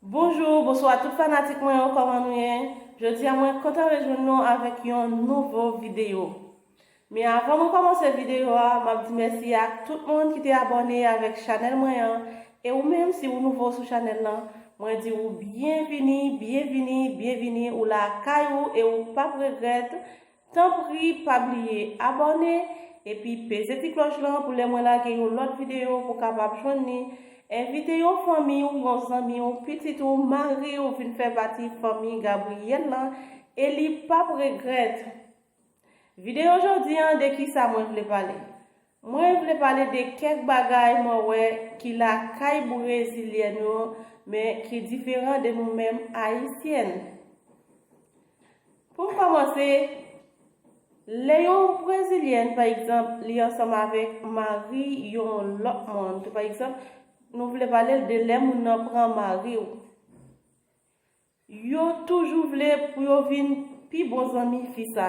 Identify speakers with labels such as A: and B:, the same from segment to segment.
A: Bonjou, bonswa tout fanatik mwen yo kòman nou ye? Jodi a mwen kontan rejwenn nou avèk yon nouvo videyo Men avan mwen kòmanse videyo a map di mèsi ak tout moun ki te abòne avèk chanèl mwen an E ou menm si ou nouvo sou chanèl lan mwen di ou byenvini, byenvini, byenvini ou la kay ou e ou pap regrèt Tanpri pa bliye abòne epi peze ti klòch lan pou lè mwen lage yon lòt videyo pou kapab jwenn li, envite yon fanmi w, yon zanmi w, pitit ou, mari w vin fè pati fanmi Gabriel lan e li pap regrèt. Videyo jodi an de kisa mwen vle pale? Mwen vle pale de kèk bagay mwen wè ki lakay Brezilyen yo men ki diferan de nou menm Ayisyèn. Pou m kòmanse, lè yon Brezilyèn pa egzanp li ansanm avèk mari yon lòt moun tou pa egzanp nou vle pale l de lè moun nan pran mari w. Yo toujou vle pou yo vin pi bon zanmi fi sa.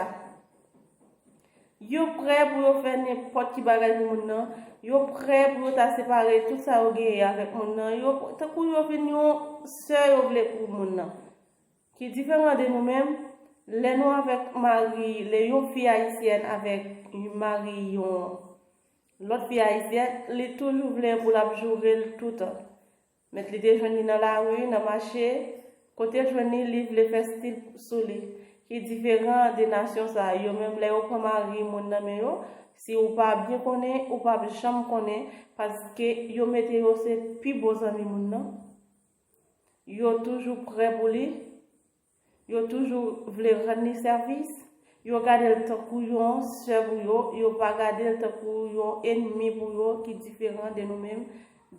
A: Yo prè pou yo fè nenpòt ki bagay pou moun nan, yo prè pou yo ta separe tout sa yo genyen avèk moun nan, yo tankou yo vin yon sè yo vle pou moun nan. Ki diferan de nou menm, lè nou avèk mari, lè yon fi ayisyèn avèk mari yon lòt fi ayisyèn, li toujou vle pou l ap joure l toutan. Met li te jwenn li nan lari, nan mache. Kote l jwenn li, li vle fè stil sou li. Ki diferan de nasyon sa a. Yo menm lè yo pran mari moun nan men yo, si ou pa byen konnen, ou p ap janm konnen paske yo mete yo se pi bon zanmi moun nan. Yo toujou prè pou li. Yo toujou vle rann li sèvis. Yo gade l tankou yon sè pou yo, yo pa gade l tankou yon enmi pou yo ki diferan de nou menm.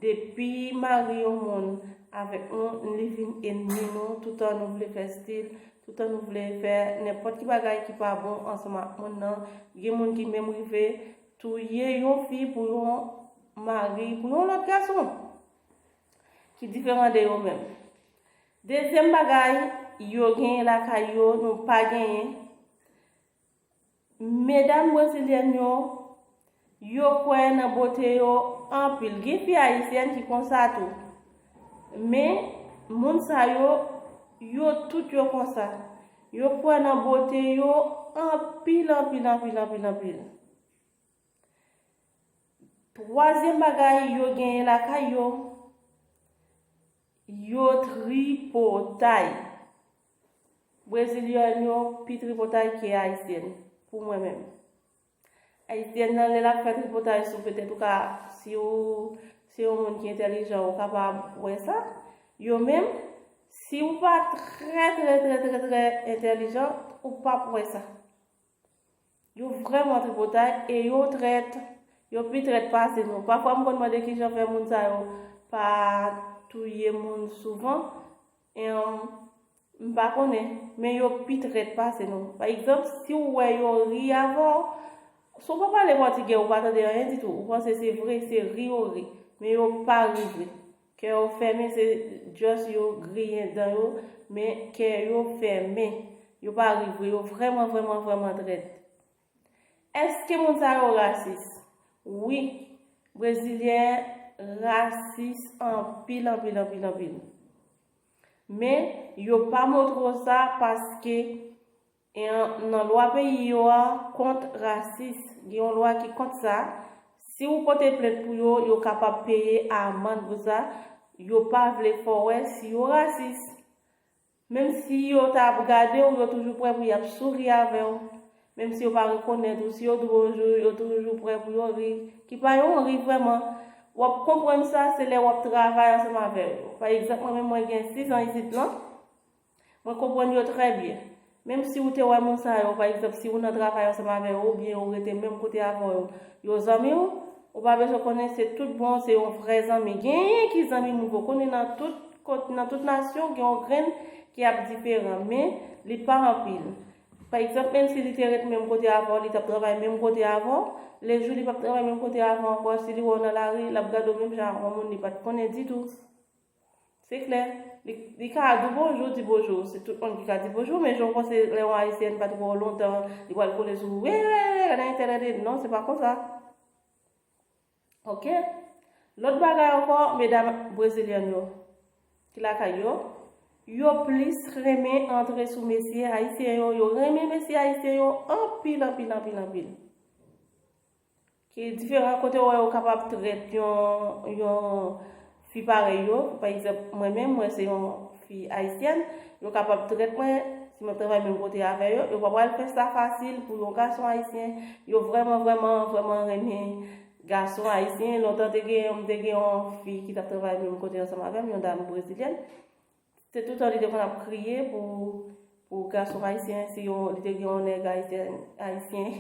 A: Depi mari yon moun avèk nou, li vin enmi nou, toutan nou vle fè stil, toutan nou vle fè nenpòt ki bagay ki pa bon ansanm ak moun nan. Gen moun ki menm rive touye yon fi pou yon mari, pou yon lòt gason ki diferan de yo menm. Dezyèm bagay yo genyen lakay yo nou pa genyen, medam brezilyèn yo, yo kwè nan bote yo anpil. Gen fi ayisyèn ki konsa tou. Men, moun sa yo, yo tout yo konsa. Yo kwè nan bote yo anpil, anpil, anpil, anpil, anpil. Twazyèm bagay yo genyen lakay yo, yo tripotay. Brezilyèn yo pi tripotay ke ayisyèn pou mwen menm. Ayisyèn nan lè lap fè tripotay sou petèt ou ka si ou se yon moun ki entèlijan ou kapab wè sa. Yo menm si ou pa trè trè trè trè trè entèlijan ou pap wè sa. Yo vrèman tripotay e yo trèt. Yo pi trèt pase nou. Pafwa m konn mande kijan fè moun sa yo pa touye moun souvan. Em, m pa konnen. Men yo pi trèt pase nou. Pa egzanp, si w wè yo ri avè w, si w pa pale pòtigè ou pa tande anyen ditou, ou panse se vre, se ri yo ri. Men yo pa ri vre. Kè yo fèmen se just yo griyen dan yo men kè yo fèmen yo pa ri vre yo vrèman vrèman vrèman trèt Eske moun sa yo rasis? Wi brezilyen rasis anpil anpil anpil anpil men yo pa moutre w sa paske E an nan lwa peyi yo a kont rasis, gen yon lwa ki kont sa, si ou pote plent pou yo, yo kapab peye amand pou sa, yo pa vle fè w wè si yo rasis. Menm si yo ta ap gade w, yo toujou prè pou y ap souri avè w. Menm si yo pa rekonèt ou, si yo di w bonjou, yo toujou prè pou yo ri, ki pa yon ri vrèman. W ap konprann sa, se lè w ap travay ansanm avè yo. Pa egzanp, mwen menm mwen gen 6 an isit lan. Mwen konprann yo trè byen. Menm si ou te wè moun sa yo, pa egzanp, si ou nan travay ansanm avè yo oubyen ou rete menm kote avè yo, yo zanmi ou, ou pa bezwen konnen se tout bon, se yon vrè zanmi. Genyen ki zanmi moun poko konnen nan tout kot, nan tout nasyon gen yon grenn ki ap diferan, men li pa anpil. Pa egzanp, menm si li te ret menm kote avè w, li t ap travay menm kote avè w, le jou li p ap travay menm kote avè w ankò, si li wè w nan lari, l ap gade w menm jan ak yon moun li pa t konnen ditou. Se klè. Li ka di w bonjou, di bonjou. Se tout moun ki ka di bonjou, men jan w panse lè yon Ayisyèn pa t wè w lontan, li pral kole sou ou, Hey, hey, hey, gade entènèt e. Non, se pa konsa. Ok. Lòt bagay ankò, medam brezilyèn yo ki lakay yo, yo plis renmen antre sou mesye Ayisyen yo. Yo renmen mesye Ayisyen yo anpil, anpil, anpil, anpil. Ki diferan kote ou wè yo kapab trèt yon yon fi parèy yo, pa egzanp mwen menm mwen se yon fi ayisyèn, yo kapab trèt mwen si mwen travay menm kote avè yo, yo pa pral fè sa fasil pou yon gason ayisyen, yo vrèman vrèman vrèman renmen gason ayisyen, lontan te gen mte gen yon fi ki tap travay menm kote ansanm avèm yon dam brezilyèn, Se toutan li te konn ap kriye pou gason ayisyen, si li te gen yon nèg ayisyen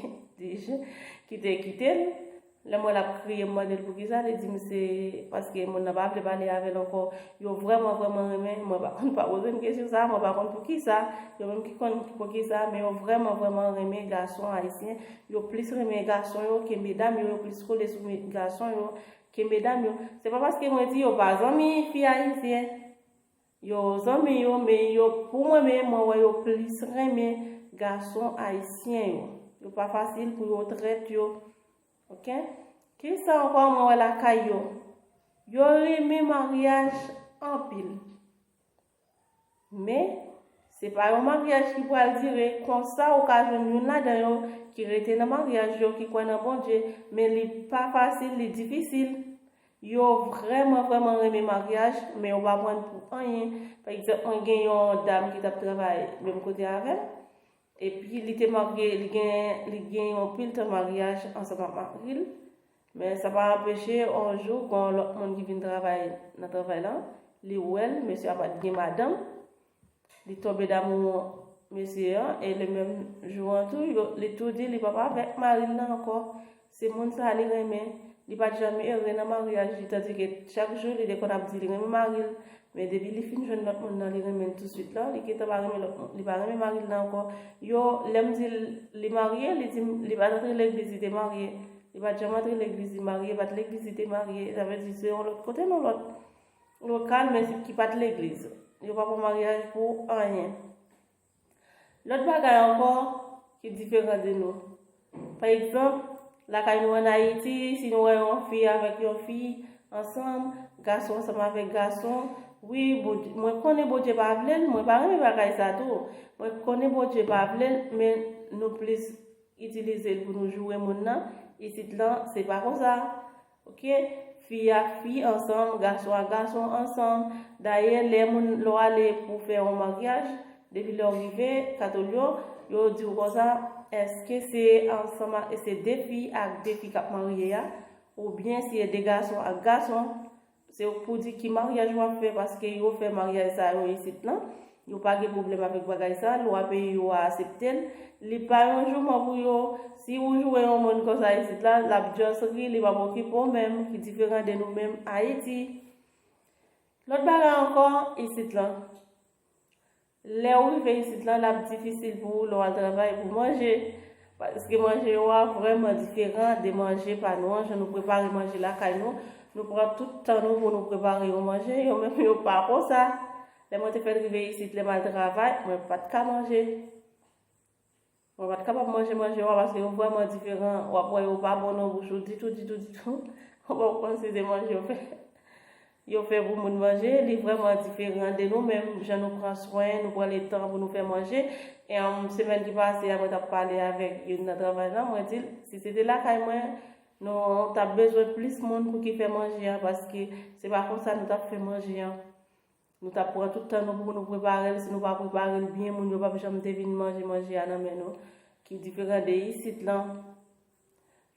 A: ki te kite l. Lè m wè l ap kriye, m mande l pou kisa, li di m se paske moun nan pa vle pale avè l ankò. Yo vrèman vrèman renmen l, mwen pa konn pa poze m kesyon sa, mwen pa konn pou kisa, yo menm ki konn pou kisa, men yo vrèman vrèman renmen gason ayisyen, yo plis renmen gason yo ke medam yo, yo plis kole sou gason yo Kenbe dam yo. Se pa paske mwen di yo pa zanmi fi ayisyen. Yo zanmi yo men yo pou mwen men mwen wè yo plis renmen gason ayisyen yo. Yo pa fasil pou yo trèt yo. Ok. Kisa ankò mwen wè lakay yo. Yo rinmin maryaj anpil. Men, se pa yon maryaj ki pral dire. Konsa, ou ka jwenn youn ladan yo ki rete nan maryaj yo, ki kwè nan Bondye, men li pa fasil, li difisil. Yo vrèman, vrèman renmen maryaj, men yo pa pran l pou anyen. Pa egzanp, mwen gen yon dam ki t ap travay menm kote avè m. Epi li te marye, li gen li gen yon pil tan maryaj ansanm ak mari l, men sa pa anpeche yon jou gon yon lòt moun ki vin travay nan travay lan, li wè l, mesye a pat gen madanm, li tonbe damou mesye an e le menm jou an tou yo li tou di li pap avèk mari l lan ankò. Se moun sa li renmen, li pat janm ere nan maryaj li tandike chak jou li te konn ap di li renmen mari l, men depi li fin jwenn lòt moun nan li renmen l touswit la, li gentan pa renmen lòt moun, li pa renmen mari l nan ankò, yo lè m di l li marye li di m li pat antre legliz li te marye, li pat janm antre legliz li marye, pat legliz li te marye, sa vle di se yon lòt kote nan lòt lokal men ki pat legliz, yo pa pran maryaj pou anyen. Lòt bagay ankò ki diferan de nou. Pa egzanp, lakay nou an Ayiti, si nou wè yon fi avèk yon fi ansanm, gason ansanm avèk gason, wi, mwen konnen Bondye pa vle l, mwen pa renmen bagay sa tou, mwen konnen Bondye pa vle l, men nou plis itilize l pou nou joure moun nan, isit lan se pa konsa. Ok fi ak fi ansanm gason ak gason ansanm dayè lè moun lè w ale pou fè yon maryaj depi lè w rive katol yo yo di w konsa eske se ansanm ak se de fi ak de fi k ap marye a oubyen se de gason ak gason Se ok pou di ki maryaj wap fè paske yo fè maryaj sa yo isit nan. Yo pa gen pwoblèm avèk bagay sa, lwa peyi yo a asepte l. Li pa yon jouman pou yo. Si ou jwe yon moun konsa isit la, lap just ri, li pap okipe w menm, ki diferan de nou menm Ayiti. Lòt bagay ankò, isit lan. Lè ou rive isit la, l ap difisil pou ou lè w al travay pou manje. Paske manje yo a vrèman diferan de manje pa nou an, jan nou prepare manje lakay nou. Nou pran tout tan nou pou nou prepare yon manje, yo menm yo pa konsa. Lè mwen te fè l rive isit, lè m al travay, mwen pa t ka manje. Mwen pat kapab manje manje wa paske yo vrèman diferan, wap wè yo pa bon nan bouch ou ditou ditou ditou, ou pap konn si se manje yo fè yo fè pou moun manje, li vrèman diferan de nou menm jan nou pran swen, nou pran le tan pou nou fè manje, em semèn ki pase a mwen tap pale avèk youn nan travay la mwen dil si se te lakay mwen nou tap bezwen plis moun pou ki fè manje a paske se pa konsa nou tap fè manje an. Nou tap pran tout tan nou pou nou preparel si nou pa preparel byen moun yo pap janm te vin manje manje a nan men nou ki diferan de isit lan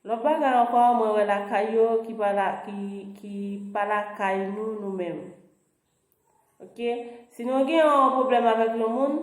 A: lòt bagay ankò mwen wè lakay yo ki pa la ki pa lakay nou nou menm ok si nou gen yon pwoblèm avèk yon moun.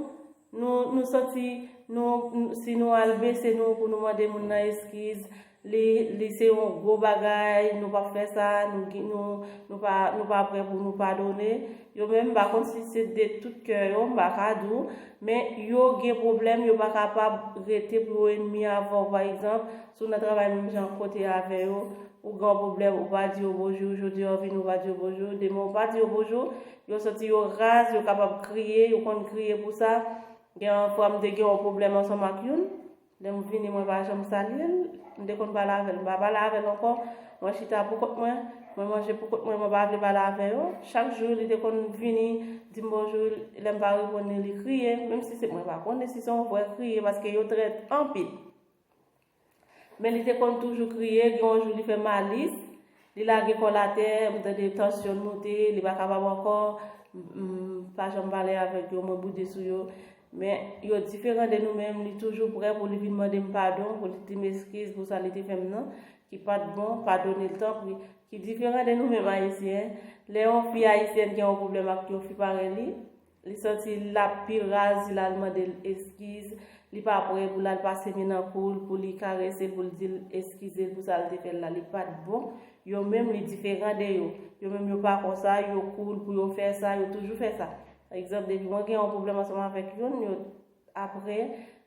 A: Nou nou santi nou si nou al bese nou pou nou mande moun nan eskiz li li se yon gwo bagay nou pap fè sa nou gen nou nou pa nou pa prè pou nou padone yo men m pa konn si se de tout kè yo m pa ka di w men yo gen pwoblèm yo pa kapab rete pou yo enmi avè w pa egzanp si w nan travay menm jan kote avè yo ou gen yon pwoblèm ou pa di yo bonjou jodi a w vini ou pa di yo bonjou demen ou pa di yo bonjou Yo santi yo raz, yo kapab kriye, yo konn kriye pou sa. Gen yon fwa m te gen yon pwoblèm ansanm ak youn. Lè m vini mwen pa janm salye l. M te konn pale avè l. M pa pale avè l ankò. Mwen chita pou kont mwen. Mwen manje pou kont mwen. Mwen pa vle pale avè yo. Chak jou li te konn vini di m bonjou. Lè m pa reponn li, li kriye. Menm si se mwen pa konnen si se yon vrè kriye paske yo trèt anpil. Men li te konn toujou kriye, gen yon jou li fè Malice, li lage kò l atè, m tande tansyon l moute, li pa kapab ankò, m pa janm pale avèk yo, mwen boude sou yo. Men, yo diferan de nou men li toujou prè pou li vin mande m padon, pou li di m eskiz pou sa li te fè m nan, ki pa t bon, padone l tanpri. Ki diferan de nou menm Ayisyen, lè yon fi Ayisyèn gen yon pwoblèm ak yon fi parèy li, Li santi lap pi raz si lal mandel eskiz, li pa prè pou lal pase men nan koul pou li karesel poul dil eskizel pou sal te fèl la li pat bon, yo menm li diferan de yo, yo menm yo pa konsa, yo koul pou yo fè sa, yo toujou fè sa. Pa egzanp depi mwen gen yon pwoblèm ansanm avèk youn, yo aprè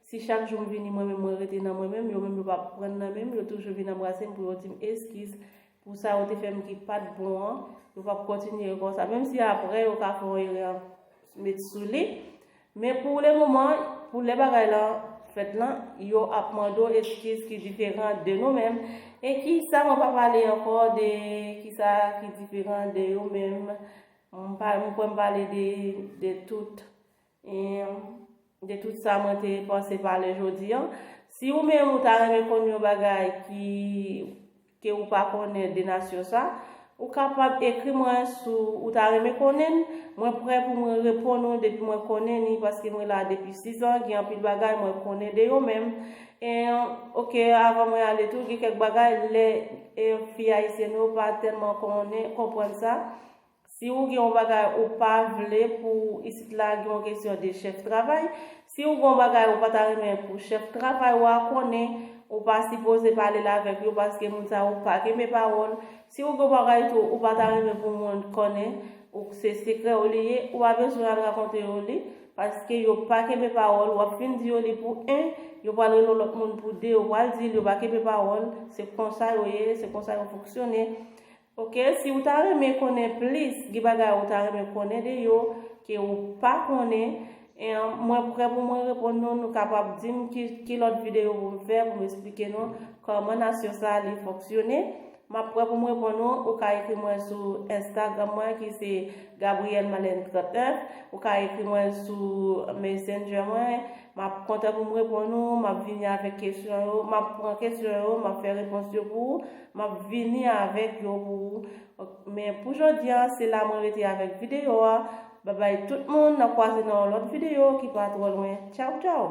A: si chak jou m vini mwen menm mwen rete nan mwen menm, yo menm yo pa pran nan menm, yo toujou vin anbrasem pou yo dim eskiz, Pou sa yo te fè m ki pa t bon an, yo p ap kontinye konsa. Menm si apre yo ka fè yon erè met sou li. Men pou lemoman, pou lè bagay lan fèt lan, yo ap mande w eskiz ki diferan de nou menm. E ki sa mwen pa pale ankò de ki sa ki diferan de yo menm. Mwen kwè m pale de tout. Humm de tout sa mwen te panse pale jodi an si ou menm ou ta renmen konn yon bagay ki ke ou pa konnen de nasyon sa ou kapab ekri mwen sou ou ta renmen konnen n mwen prè pou mwen reponn ou depi mwen konnen ni paske mwen la depi 6 an gen anpil bagay mwen konnen de yo menm en ok avan mwen ale tou gen kèk bagay lè en fi ayisyèn yo pa tèlman konnen konprann sa Si ou gen yon bagay ou pa vle pou isit la gen yon kesyon de chèf travay, si ou gen yon bagay ou pa ta renmen pou chèf travay ou a konnen, ou pa sipoze pale l avèk yo paske moun sa yo pa kenbe pawòl. Si ou gen yon bagay tou ou pa ta renmen pou moun konnen, ou se sekrè ou li ye, ou pa bezwen al rakonte yo li, paske yo pa kenbe pawòl, w ap fin di yo li pou 1, yo pral rele yon lòt moun pou 2, ou pral di l yo pa kenbe pawòl, se konsa yo ye, se konsa yo fonksyone. Ok si ou ta renmen konnen plis gen bagay ou ta renmen konnen de yo ke ou pa konnen en mwen prè pou mwen reponn nou nou kapab dim ki lòt videyo pou m fè pou m esplike nou kòman nasyon sa li fonksyone map prè pou m reponn ou ou ka ekri mwen sou enstagram mwen ki se Gabrielle Malène 31 ou ka ekri mwen sou messenger mwen M ap kontan pou m reponn ou. M ap vini avèk kesyon yo. M ap pran kesyon yo. M ap fè repons yo pou ou. M ap vini avèk yo pou ou. Men pou jodi an, se la mwen rete avèk videyo a. Babay tout moun, n ap kwaze nan yon lòt videyo ki pa twò lwen. Tchaw tchaw!